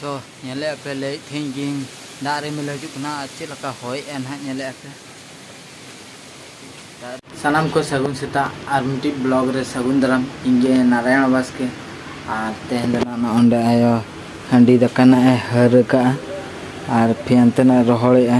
ᱛᱚ ᱧᱮᱞᱮᱫ ᱟᱯᱮ ᱞᱟᱹᱭᱮᱫ ᱛᱟᱦᱮᱸ ᱜᱤᱧ ᱫᱟᱜ ᱨᱤᱢᱤᱞ ᱦᱤᱡᱩᱜ ᱠᱟᱱᱟ ᱟᱨ ᱪᱮᱫ ᱞᱮᱠᱟ ᱦᱚᱭᱮᱫᱼᱟ ᱱᱟᱦᱟᱜ ᱧᱮᱞᱮᱫ ᱟᱯᱮ ᱥᱟᱱᱟᱢ ᱠᱚ ᱥᱟᱹᱜᱩᱱ ᱥᱮᱛᱟᱜ ᱟᱨ ᱢᱤᱫᱴᱤᱡ ᱵᱞᱚᱜ ᱨᱮ ᱥᱟᱹᱜᱩᱱ ᱫᱟᱨᱟᱢ ᱤᱧ ᱜᱮ ᱱᱟᱨᱟᱭᱚᱱ ᱵᱟᱥᱠᱮ ᱟᱨ ᱛᱮᱦᱮᱧ ᱫᱚ ᱱᱟᱦᱟᱜ ᱚᱸᱰᱮ ᱟᱭᱳ ᱦᱟᱺᱰᱤ ᱫᱟᱠᱟ ᱱᱟᱦᱟᱜ ᱮ ᱦᱟᱹᱨ ᱟᱠᱟᱫᱼᱟ ᱟᱨ ᱯᱷᱮᱱ ᱛᱮ ᱱᱟᱦᱟᱜ ᱨᱚᱦᱚᱲᱮᱫᱼᱟ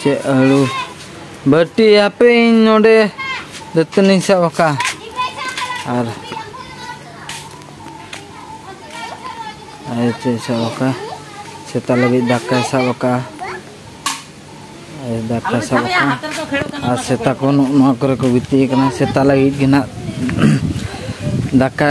ᱪᱮᱫ ᱦᱩᱲᱩ ᱵᱟᱹᱴᱤ ᱦᱟᱯᱮ ᱤᱧ ᱱᱚᱰᱮ ᱫᱟᱹᱛᱟᱹᱱᱤᱧ ᱥᱟᱵ ᱟᱠᱟᱫ ᱟᱨ ᱟᱭᱳ ᱪᱮᱫ ᱥᱟᱵ ᱟᱠᱟᱫ ᱥᱮᱛᱟ ᱞᱟᱹᱜᱤᱫ ᱫᱟᱠᱟᱭ ᱥᱟᱵ ᱟᱠᱟᱫ ᱫᱟᱠᱟ ᱥᱟᱵ ᱟᱠᱟᱫ ᱟᱨ ᱥᱮᱛᱟ ᱠᱚ ᱱᱚᱣᱟ ᱠᱚᱨᱮ ᱠᱚ ᱜᱤᱛᱤᱡ ᱟᱠᱟᱱᱟ ᱥᱮᱛᱟ ᱞᱟᱹᱜᱤᱫ ᱜᱮ ᱱᱟᱜ ᱫᱟᱠᱟ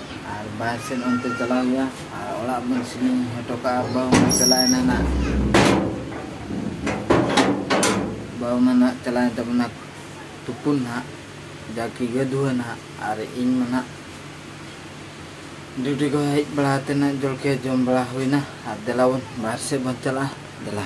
ᱟᱨ ᱵᱟᱦᱮᱨ ᱥᱮᱫ ᱚᱱᱛᱮ ᱪᱟᱞᱟᱣ ᱦᱩᱭᱩᱜᱼᱟ ᱟᱨ ᱚᱲᱟᱜ ᱵᱚᱱ ᱥᱤᱞᱤᱝ ᱦᱚᱴᱚ ᱠᱟᱜᱼᱟ ᱵᱟᱹᱦᱩ ᱢᱟ ᱪᱟᱞᱟᱣᱮᱱᱟ ᱱᱟᱜ ᱵᱟᱹᱦᱩ ᱢᱟ ᱱᱟᱜ ᱪᱟᱞᱟᱣᱮᱱ ᱛᱟᱵᱚᱱᱟ ᱛᱩᱯᱩᱱ ᱱᱟᱜ ᱡᱟᱠᱤ ᱜᱟᱹᱫᱷᱩᱣᱟᱹ ᱱᱟᱜ ᱟᱨ ᱤᱧ ᱢᱟ ᱱᱟᱜ ᱰᱤᱭᱩᱴᱤ ᱠᱚ ᱦᱮᱡ ᱵᱟᱲᱟ ᱠᱟᱛᱮ ᱱᱟᱜ ᱡᱚᱞᱠᱷᱤᱭᱟᱹ ᱡᱚᱢ ᱵᱟᱲᱟ ᱦᱩᱭᱱᱟ ᱟᱨ ᱫᱮᱞᱟ ᱵᱚᱱ ᱵᱟᱦᱮᱨ ᱥᱮᱫ ᱵᱚᱱ ᱪᱟᱞᱟᱜᱼᱟ ᱫᱮᱞᱟ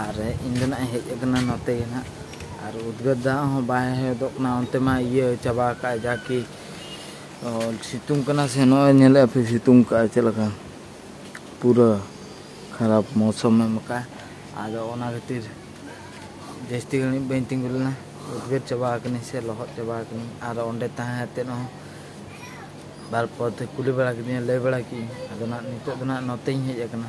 ᱟᱨ ᱤᱧ ᱫᱚ ᱱᱟᱜ ᱦᱮᱡ ᱟᱠᱟᱱᱟ ᱱᱚᱛᱮ ᱜᱮ ᱱᱟᱜ ᱟᱨ ᱩᱫᱽᱜᱟᱹᱨ ᱫᱟᱜ ᱦᱚᱸ ᱵᱟᱭ ᱦᱮᱫᱚᱜ ᱠᱟᱱᱟ ᱚᱱᱛᱮ ᱢᱟ ᱤᱭᱟᱹ ᱪᱟᱵᱟ ᱟᱠᱟᱫ ᱡᱟ ᱠᱤ ᱥᱤᱛᱩᱝ ᱠᱟᱱᱟ ᱥᱮ ᱱᱚᱜᱼᱚᱭ ᱧᱮᱞᱮᱫ ᱯᱮ ᱥᱤᱛᱩᱝ ᱠᱟᱜᱼᱟ ᱪᱮᱫ ᱞᱮᱠᱟ ᱯᱩᱨᱟᱹ ᱠᱷᱟᱨᱟᱯ ᱢᱚᱥᱚᱢ ᱮᱢ ᱟᱠᱟᱫ ᱟᱫᱚ ᱚᱱᱟ ᱠᱷᱟᱹᱛᱤᱨ ᱡᱟᱹᱥᱛᱤ ᱜᱷᱟᱹᱲᱤᱡ ᱵᱟᱹᱧ ᱛᱤᱸᱜᱩ ᱞᱮᱱᱟ ᱩᱫᱽᱜᱟᱹᱨ ᱪᱟᱵᱟ ᱟᱠᱟᱱᱟᱹᱧ ᱥᱮ ᱞᱚᱦᱚᱫ ᱪᱟᱵᱟ ᱟᱠᱟᱱᱟᱹᱧ ᱟᱨ ᱚᱸᱰᱮ ᱛᱟᱦᱮᱸ ᱠᱟᱛᱮᱫ ᱦᱚᱸ ᱵᱟᱨᱯᱚᱨ ᱛᱮ ᱠᱩᱞᱤ ᱵᱟᱲᱟ ᱠᱤᱫᱤᱧᱟ ᱞᱟᱹᱭ ᱵᱟᱲᱟ ᱠᱤᱫᱟᱹᱧ ᱟᱫᱚ ᱱᱟᱜ ᱱᱤᱛᱚᱜ ᱫᱚ ᱱᱟᱜ ᱱᱚᱛᱮᱧ ᱦᱮᱡ ᱟᱠᱟᱱᱟ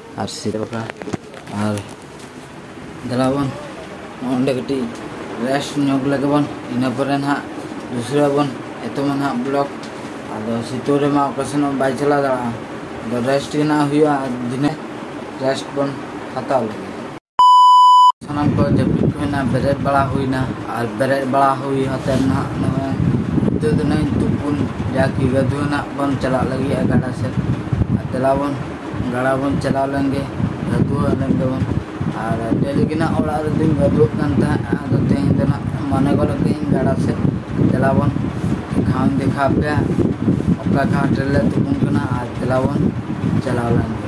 ᱟᱨ ᱥᱤᱨᱟᱹ ᱵᱟᱠᱷᱨᱟ ᱟᱨ ᱫᱮᱞᱟᱵᱚᱱ ᱚᱸᱰᱮ ᱠᱟᱹᱴᱤᱡ ᱨᱮᱥᱴ ᱧᱚᱜ ᱞᱮᱜᱮ ᱵᱚᱱ ᱤᱱᱟᱹ ᱯᱚᱨᱮ ᱱᱟᱦᱟᱜ ᱫᱩᱥᱨᱟᱹ ᱵᱚᱱ ᱮᱛᱚᱢᱟ ᱱᱟᱦᱟᱜ ᱵᱞᱚᱠ ᱟᱫᱚ ᱥᱤᱛᱩᱝ ᱨᱮᱢᱟ ᱚᱠᱟ ᱥᱮᱱ ᱦᱚᱸ ᱵᱟᱭ ᱪᱟᱞᱟᱣ ᱫᱟᱲᱮᱭᱟᱜᱼᱟ ᱟᱫᱚ ᱨᱮᱥᱴ ᱜᱮ ᱱᱟᱦᱟᱜ ᱦᱩᱭᱩᱜᱼᱟ ᱫᱤᱱᱮ ᱨᱮᱥᱴ ᱵᱚᱱ ᱦᱟᱛᱟᱣ ᱞᱮᱜᱮ ᱥᱟᱱᱟᱢ ᱠᱚ ᱡᱟᱹᱯᱤᱫ ᱠᱚ ᱦᱩᱭᱱᱟ ᱵᱮᱨᱮᱫ ᱵᱟᱲᱟ ᱦᱩᱭᱱᱟ ᱟᱨ ᱵᱮᱨᱮᱫ ᱵᱟᱲᱟ ᱦᱩᱭ ᱠᱟᱛᱮ ᱱᱟᱦᱟᱜ ᱱᱚᱜᱼᱚᱭ ᱱᱤᱛᱚᱜ ᱫᱚ ᱱᱟᱦᱟᱜ ᱛᱩᱯᱩᱱ ᱡᱟᱠᱤ ᱜᱟᱹᱫᱩ ᱱᱟᱦᱟᱜ ᱵᱚᱱ ᱪᱟᱞᱟᱜ ᱞᱟᱹᱜᱤᱫ ᱜᱟᱰᱟ ᱥᱮᱫ ᱫᱮᱞᱟ ᱵᱚᱱ ᱜᱟᱰᱟ ᱵᱚᱱ ᱪᱟᱞᱟᱣ ᱞᱮᱱ ᱜᱮ ᱜᱟᱹᱫᱩ ᱞᱮᱱ ᱜᱮᱵᱚᱱ ᱟᱨ ᱰᱮᱞᱤ ᱜᱮ ᱱᱟᱦᱟᱜ ᱚᱲᱟᱜ ᱨᱮᱫᱚᱧ ᱜᱟᱹᱫᱩᱜ ᱠᱟᱱ ᱛᱟᱦᱮᱸᱫ ᱟᱫᱚ ᱛᱮᱦᱮᱧ ᱫᱚ ᱱᱟᱦᱟᱜ ᱢᱚᱱᱮ ᱜᱚᱫ ᱠᱟᱹᱫᱟᱹᱧ ᱜᱟᱰᱟ ᱥᱮᱫ ᱫᱮᱞᱟ ᱵᱚᱱ ᱜᱷᱟᱴ ᱫᱮᱠᱷᱟ ᱯᱮᱭᱟ ᱚᱠᱟ ᱜᱷᱟᱴ ᱨᱮᱞᱮ ᱛᱩᱯᱩᱱ ᱠᱟᱱᱟ ᱟᱨ ᱫᱮᱞᱟ ᱵᱚᱱ ᱪᱟᱞᱟᱣ ᱞᱮᱱ ᱜᱮ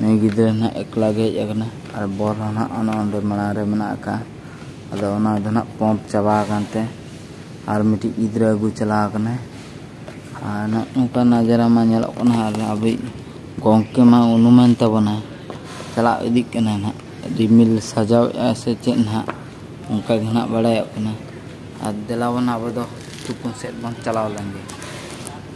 ᱱᱩᱭ ᱜᱤᱫᱽᱨᱟᱹ ᱱᱟᱦᱟᱜ ᱮᱠᱞᱟ ᱜᱮ ᱦᱮᱡ ᱟᱠᱟᱱᱟ ᱟᱨ ᱵᱚᱞ ᱦᱚᱸ ᱱᱟᱦᱟᱜ ᱚᱱᱮ ᱚᱸᱰᱮ ᱢᱟᱲᱟᱝ ᱨᱮ ᱢᱮᱱᱟᱜ ᱟᱠᱟᱫᱼᱟ ᱟᱫᱚ ᱚᱱᱟ ᱫᱚ ᱱᱟᱦᱟᱜ ᱯᱚᱢᱯ ᱪᱟᱵᱟ ᱟᱠᱟᱱ ᱛᱮ ᱟᱨ ᱢᱤᱫᱴᱤᱡ ᱜᱤᱫᱽᱨᱟᱹ ᱟᱹᱜᱩ ᱪᱟᱞᱟᱣ ᱟᱠᱟᱱᱟᱭ ᱟᱨ ᱱᱟᱦᱟᱜ ᱱᱚᱝᱠᱟ ᱱᱟᱡᱟᱨᱟ ᱢᱟ ᱧᱮᱞᱚᱜ ᱠᱟᱱᱟ ᱟᱨ ᱟᱵᱚᱭᱤᱡ ᱜᱚᱢᱠᱮ ᱢᱟ ᱩᱱᱩᱢᱮᱱ ᱛᱟᱵᱚᱱᱟ ᱪᱟᱞᱟᱣ ᱤᱫᱤᱜ ᱠᱟᱱᱟᱭ ᱱᱟᱦᱟᱜ ᱨᱤᱢᱤᱞ ᱥᱟᱡᱟᱣᱮᱫᱼᱟ ᱥᱮ ᱪᱮᱫ ᱱᱟᱦᱟᱜ ᱚᱱᱠᱟ ᱜᱮ ᱱᱟᱦᱟᱜ ᱵᱟᱲᱟᱭᱚᱜ ᱠᱟᱱᱟ ᱟᱨ ᱫᱮᱞᱟᱵᱚᱱ ᱟᱵᱚ ᱫᱚ ᱛᱩᱯᱩᱱ ᱥᱮᱫ ᱵᱚᱱ ᱪᱟᱞᱟᱣ ᱞᱮᱱ ᱜᱮ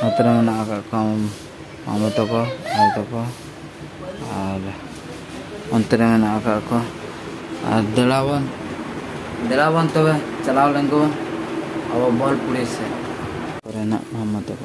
ᱱᱚᱛᱮ ᱨᱮ ᱢᱮᱱᱟᱜ ᱟᱠᱟᱫ ᱠᱚᱣᱟ ᱢᱟᱢᱚ ᱛᱟᱠᱚ ᱟᱭᱳ ᱛᱟᱠᱚ ᱟᱨ ᱚᱱᱛᱮ ᱨᱮ ᱢᱮᱱᱟᱜ ᱟᱠᱟᱫ ᱠᱚᱣᱟ ᱟᱨ ᱫᱮᱞᱟᱵᱚᱱ ᱫᱮᱞᱟᱵᱚᱱ ᱛᱚᱵᱮ ᱪᱟᱞᱟᱣ ᱞᱮᱱ ᱜᱮᱵᱚᱱ ᱟᱵᱚ ᱵᱚᱞ ᱯᱩᱲᱤ ᱥᱮᱫ ᱠᱚᱨᱮᱱᱟᱜ ᱢᱟᱢᱚ ᱛᱟᱠᱚ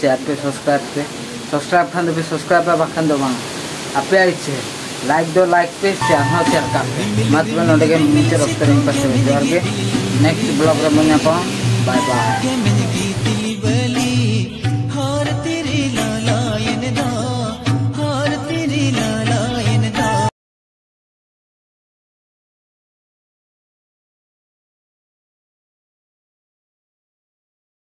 ᱥᱮᱭᱟᱨ ᱯᱮ ᱥᱟᱵᱥᱠᱨᱟᱭᱤᱵ ᱯᱮ ᱥᱟᱵᱥᱠᱨᱟᱭᱤᱵ ᱠᱷᱟᱱ ᱫᱚ ᱯᱮ ᱥᱟᱵᱥᱠᱨᱟᱭᱤᱵ ᱯᱮ ᱵᱟᱠᱷᱟᱱ ᱫᱚ ᱵᱟᱝ ᱟᱯᱮᱭᱟᱜ ᱤᱪᱪᱷᱟᱹ ᱞᱟᱭᱤᱠ ᱫᱚ ᱞᱟᱭᱤᱠ ᱯᱮ ᱥᱮᱭᱟᱨ ᱦᱚᱸ ᱥᱮᱭᱟᱨ ᱠᱟᱜ ᱯᱮ ᱢᱟ ᱛᱚᱵᱮ ᱱᱚᱰᱮ ᱜᱮ ᱢᱩᱪᱟᱹᱫ ᱚᱠᱛᱚ ᱨᱮᱧ ᱯᱟᱥᱮ ᱡᱚᱦᱟᱨ ᱜᱮ ᱱᱮᱠᱥᱴ ᱵᱞᱚᱜ ᱨᱮ ᱵᱚᱱ ᱧᱟᱯᱟᱢᱟ ᱵᱟᱭ